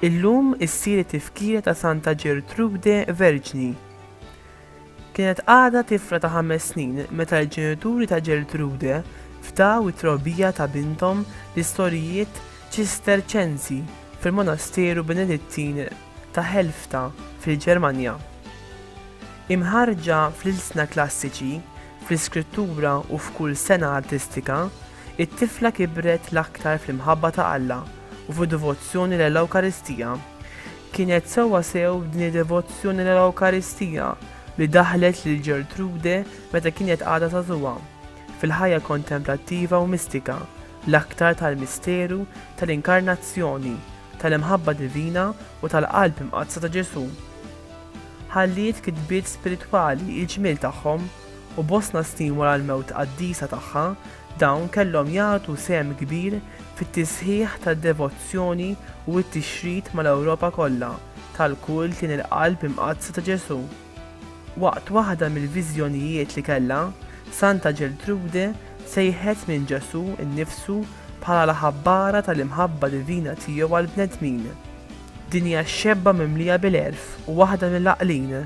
Illum issir it-tifkira ta' Santa Ġertrude Verġni. Kienet għadha tifla ta' ħames snin meta l-ġenituri ta' Gertrude fdaw it-trobbija ta' binthom l-istorijiet Ċisterċensi fil-Monasteru Benedittin ta' Helfta fil-Ġermanja. Imħarrġa fl-ilsna klassiċi, fl-iskrittura u f'kull sengħa artistika, It-tifla kibret l-aktar fl-imħabba ta' Alla u fid-devozzjoni lell-Ewkaristija. Kienet sewwasew din id-devozzjoni lell-Ewkaristija li daħħlet lil Ġertrude meta kienet għadha żagħżugħa, fil-ħajja kontemplattiva u mistika, l-aktar tal-misteru tal-Inkarnazzjoni, tal-imħabba divina u tal-Qalb Imqaddsa ta' Ġesù. Ħalliet kitbiet spiritwali l-ġmiel tagħhom. u bosta snin wara l-mewt qaddisa tagħha, dawn kellhom jagħtu sehem kbir fit-tisħiħ tad-devozzjoni u t-tixrid mal-Ewropa kollha tal-kult lejn il-Qalb Imqaddsa ta' Ġesù. Waqt waħda mill-viżjonijiet li kellha, Santa Ġertrude sejħet lil Ġesù nnifsu bħala l-ħabbara tal-imħabba divina tiegħu għall-bnedmin. Dinja xebba mimlija bil-għerf u waħda mill-għaqlin,